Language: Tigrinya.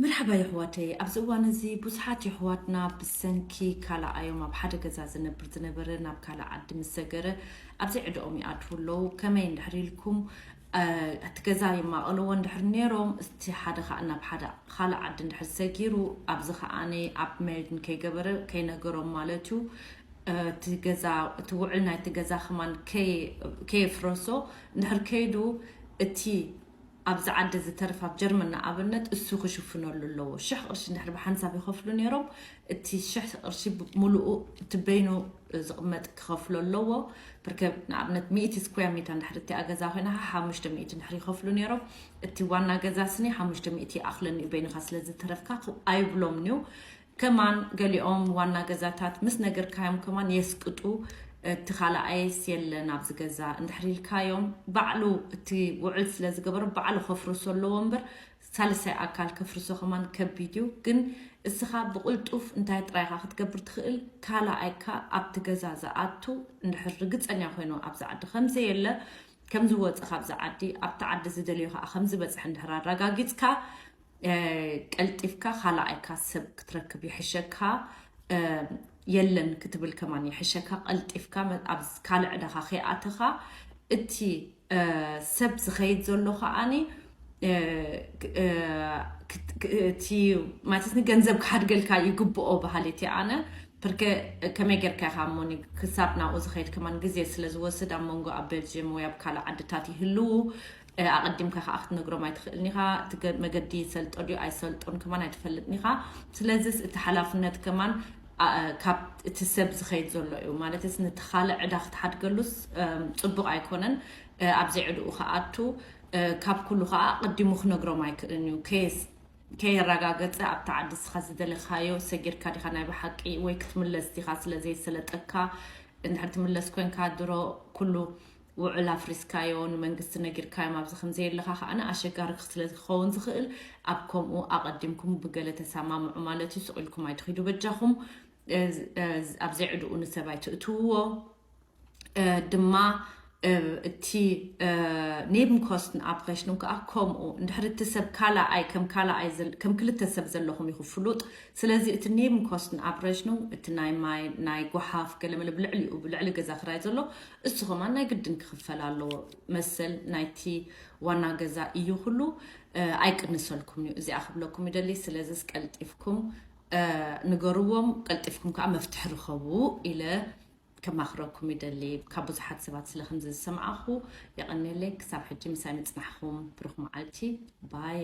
መርሓባ የሕዋተይ ኣብዚ እዋን እዚ ቡዙሓት የሕዋትና ብሰንኪ ካላኣዮም ኣብ ሓደ ገዛ ዝነብር ዝነበረ ናብ ካልእ ዓዲ ምስ ሰገረ ኣብ ዘይዕደኦም ይኣትዉ ኣለዉ ከመይ እንድሕር ኢልኩም ኣቲ ገዛ ይማቀልዎ እንድሕር ኔሮም እስቲ ሓደ ካኣ ናብ ሓደ ካልእ ዓዲ እንድሕር ሰጊሩ ኣብዚ ካኣ ኣብ መሪድ ከይገበረ ከይነገሮም ማለት እዩ እቲ ገዛ እቲ ውዕል ናይቲ ገዛ ከማን ከየፍረሶ እንድሕር ከይዱ እቲ ኣብዚ ዓዲ ዝተርፍ ኣብ ጀርመን ንኣብነት እሱ ክሽፍነሉ ኣለዎ ሽሕ ቅርሺ እንድሕር ብሓንሳብ ይኸፍሉ ነይሮም እቲ ሽሕ ቅርሺ ሙሉኡ እቲ በይኑ ዝቕመጥ ክኸፍሎ ኣለዎ ብርከ ንኣብነት ሚእቲ ስኩያ ሜታ እንድሕር እቲኣ ገዛ ኮይና ካ ሓሙሽተ ሚእቲ እንድሕር ይኸፍሉ ነይሮም እቲ ዋና ገዛ ስኒ ሓሙሽተ ሚእቲ ይኣኽለኒ እዩ በይንኻ ስለ ዝተረፍካ ኣይብሎምንዩ ከማን ገሊኦም ዋና ገዛታት ምስ ነግርካዮም ከማን የስቅጡ እቲ ካላኣይስ የለን ኣብዚ ገዛ እንድሕር ኢልካዮም ባዕሉ እቲ ውዕል ስለ ዝገበሮ ባዕሉ ከፍርሶ ኣለዎ እምበር ሳልሳይ ኣካል ከፍርሶ ከማን ከቢድ እዩ ግን እስኻ ብቕልጡፍ እንታይ ጥራይ ኢኻ ክትገብር ትኽእል ካላኣይካ ኣብቲ ገዛ ዝኣቱ እንድሕር ርግጸኛ ኮይኑ ኣብዚ ዓዲ ከምዘየለ ከምዝወጸ ካብዚ ዓዲ ኣብቲ ዓዲ ዝደልዮ ከኣ ከምዝበጽሐ እንድሕር ኣራጋጊጽካ ቀልጢፍካ ካላኣይካ ሰብ ክትረክብ ይሕሸካ የለን ክትብል ከማን ይሕሸካ ቀልጢፍካ ኣብ ካልእ ዕዳኻ ከይኣተኻ እቲ ሰብ ዝኸይድ ዘሎ ከዓኒ እቲ ማለት ንገንዘብ ክሓድገልካ ይግብኦ በሃሊት እየ ኣነ ብርከ ከመይ ጌርካ ኢኻ እሞ ክሳብ ናብኡ ዝኸይድ ከማን ግዜ ስለ ዝወስድ ኣብ መንጎ ኣብ ቤልጅየም ወይ ኣብ ካልእ ዓድታት ይህልው ኣቐዲምካ ከኣ ክትነግሮም ኣይትኽእልን ኢኻ። እቲ መገዲ ይሰልጦ ድዩ ኣይሰልጦን ከማን ኣይትፈልጥን ኢኻ። ስለዝስ እቲ ሓላፍነት ከማን ካብ እቲ ሰብ ዝኸይድ ዘሎ እዩ። ማለትስ ነቲ ካልእ ዕዳ ክትሓድገሉስ ጽቡቕ ኣይኮነን። ኣብ ዘይዕድኡ ክኣቱ ካብ ኩሉ ከኣ ኣቐዲሙ ክነግሮም ኣይክእልን እዩ። ከየስ ከየራጋገጸ ኣብታ ዓዲ እስኻ ዝደለኻዮ ሰጊርካ ዲኻ ናይ ብሓቂ ወይ ክትምለስ ዲኻ ስለ ዘይሰለጠካ እንድሕር ትምለስ ኮንካ ድሮ ኩሉ ውዑል ኣፍሪስካዮ ንመንግስቲ ነጊርካዮም ኣብዚ ከምዘየለኻ ከኣ ኣሸጋሪ ስለዝከውን ዝክእል ኣብ ከምኡ ኣቀዲምኩም ብገለ ተሳማምዑ ማለት እዩ ሱቅ ኢልኩም ኣይትኪዱ በጃኩም ኣብ ዘይዕድኡ ንሰብ ኣይትእትውዎ ድማ እቲ ኔብን ኮስትን ኣብሬሽኑን ከዓ ከምኡ እንድሕሪ እቲ ሰብ ካላኣይ ከም ካላኣይ ከም ክልተ ሰብ ዘለኹም ኢኹ ፍሉጥ ስለዚ እቲ ኔብን ኮስትን ኣብሬሽኑ እቲ ናይ ማይ ናይ ጓሓፍ ገለመለ ብልዕሊኡ ብልዕሊ ገዛ ክራይ ዘሎ እሱ ከማን ናይ ግድን ክክፈል ኣለዎ መሰል ናይቲ ዋና ገዛ እዩ ኩሉ ኣይቅንሰልኩምን እዩ እዚኣ ክብለኩም ይደሊ ስለዝስ ቀልጢፍኩም ንገርዎም ቀልጢፍኩም ከዓ መፍትሒ ርኸቡ ኢለ ከማክረኩም ይደሊ ካብ ብዙሓት ሰባት ስለ ከምዚ ዝሰማዕኹ የቀኔለይ ክሳብ ሕጂ ምሳይ ምፅናሕኹም ብሩክ መዓልቲ ባይ